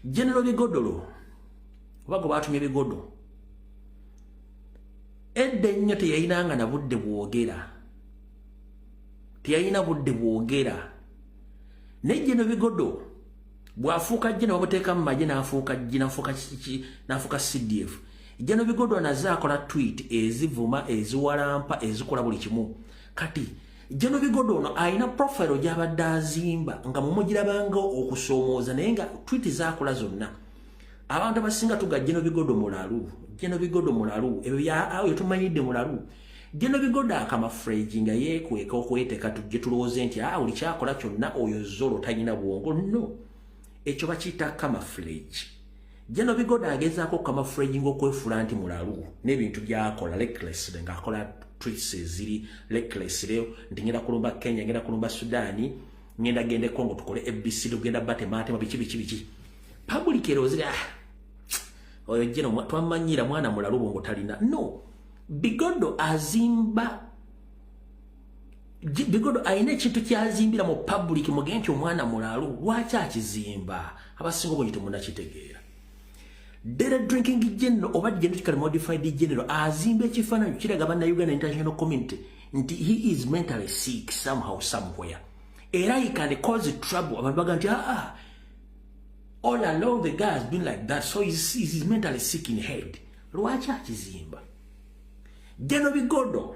genero bigodolo oba gwe baatumye bigodo edda ennyo teyayinanga na budde bwogera teyalina budde bwogera naye geno bigodo bwafuuka jje nabamuteekamu maje nafuuka jje nafuuka cdf jeno bigodo naze akola twit ezivuma eziwalampa ezikola buli kimu kati Jeno Bigodo ono alina profile gy'abadde azimba nga mumugirabanga okusoomooza naye nga twiti zaakola zonna abantu abasinga tuga Jeno Bigodo mulalu Jeno Bigodo mulalu ebyo byayo tumanyidde mulalu Jeno Bigodo akamafreji nga yeekweka okweteeka tujje tulowooze nti a ah, buli kyakola kyonna oyo zolo talina bwongo no ekyo bakiyita kamafreji Jeno bigoda agezaako okukama Fred Ngingo okwefuula nti mulalu n'ebintu by'akola recklessly ng'akola tweets eziri recklessly nti ngenda kulumba Kenya ngenda kulumba Sudaani ngenda genda e Congo tukole ABC tugenda batemaatema biki biki biki public erowozera ah, oyo Jeno twamanyira mwana mulalu bwongo talina no bigodo azimba bigodo alina ekintu kyazimbira mu public muge nti omwana mulalu lwaki akizimba abasinga obungi temunakitegeera dere drinking general oba genetically modified general azimba ekifaananyi kiraga banna uganda international community nti he is mentally sick somehow somewhere era he can cause trouble abantu baga nti aa ah, ah, all along the guy has been like that so he is, he is mentally sick in head lwaki akizimba geno bigodo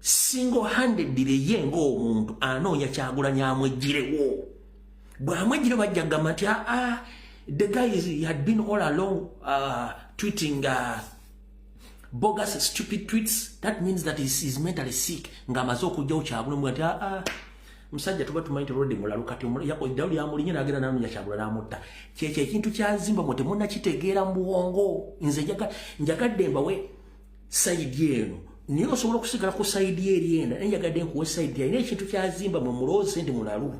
single handed ye nga omuntu anoonya kyagulanyi amwejjirewo bwamwejjire bajja kugamba nti aa ah, ah, the guys had been all along uh, tweeting uh, bogus stupid tweets that means that is, is mentally sick nga amaze okujjawo kyagulanyi nti aa ah, musajja tuba tumanyi tolode mulalu kati eddalo lyamulinye nagenda nanonya kyagula namutta kyekyo ekintu kyazimba mwe temunakitegeera mu bwongo nze njagadde mbawe sayidi eno naye osobola okusigala ku sayidi eri enda naye njagadde nkuwa esayidi alina ekintu kyazimba mwe muloozi nti mulalu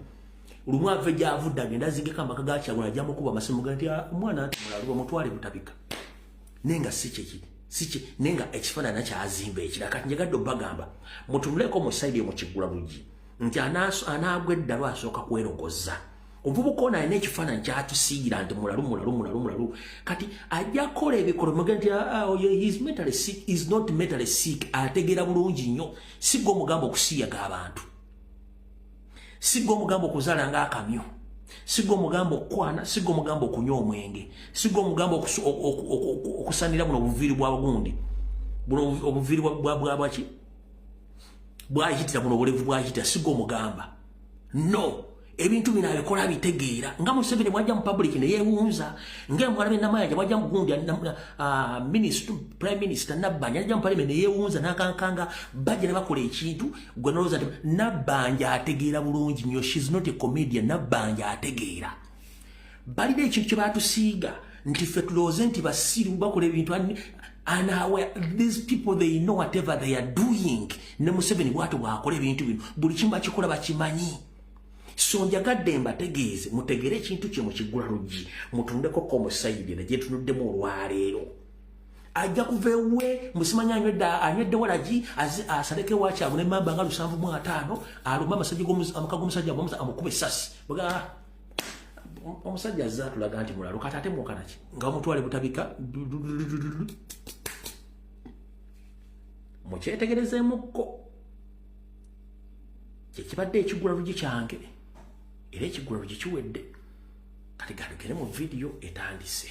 lumu ave gyavudde agenda azigeko amaka gakyagula ajamukuba amasimu ga nti ah, omwana nti mulalu bamutwale butabika naye nga si kyekiri siki naye nga ekifaanana kyazimba ekira kati njagadde obagamba mutunuleeko mu sayidi emukigula bugi nti anaagwa eddalu asooka kwerogoza omuvubuka ono alina ekifaananyi kyatusiira nti mulalu mulalu mulalu mulalu kati ajja kukola ebikolo muge nti ah, ah, oh, is not mentally sick ategeera bulungi nnyo sigga omugamba okusiyaga abantu sigga omugamba okuzaala nga akamyo sigga omugamba okukwana sigga omugamba okunywa omwenge sigga omugamba okusanira buno obuviiri bwa gundi buno obuviiri bwabwaki bwayitira buno obulevu bwayitira sigga omugamba no ebintu bino abikola abitegeera nga museveni bwajja mu public ne yeewunza ngaemwala benamayanja bwajja mugundi ah, prime minister nabbanja ajja mu parliament ne yeewunza nakankanga bajja ne bakola ekintu gwe nolowooza nti nabbanja ategeera bulungi nyo shes not a comedian nabbanja ategeera balina ekintu kye batusiiga nti ffe tulowooze nti basiru bakola ebintu and how these people they know whatever they are doing ne museveni bwato bwakola ebintu bino buli kimu bakikola bakimanyi so njagadde mbategeeze mutegere ekintu kye mukigula luggi mutundekoko omusayidi ne gyetunuddemu olwaleero ajja kuva ewuwe musimanya anywedde anywedde walagi asaleko ewakyago ne mamba nga lusanvu mu ataano aluma amasajja amaka g'omusajja amukube esasi omusajja azze atulaga nti mulalu kati ate mwokanaki nga omutwale butabika mukyetegerezemukko kyekibadde ekigula lugi kyange era ekigula lugi kiwedde kati gandugere mu vidiyo etandise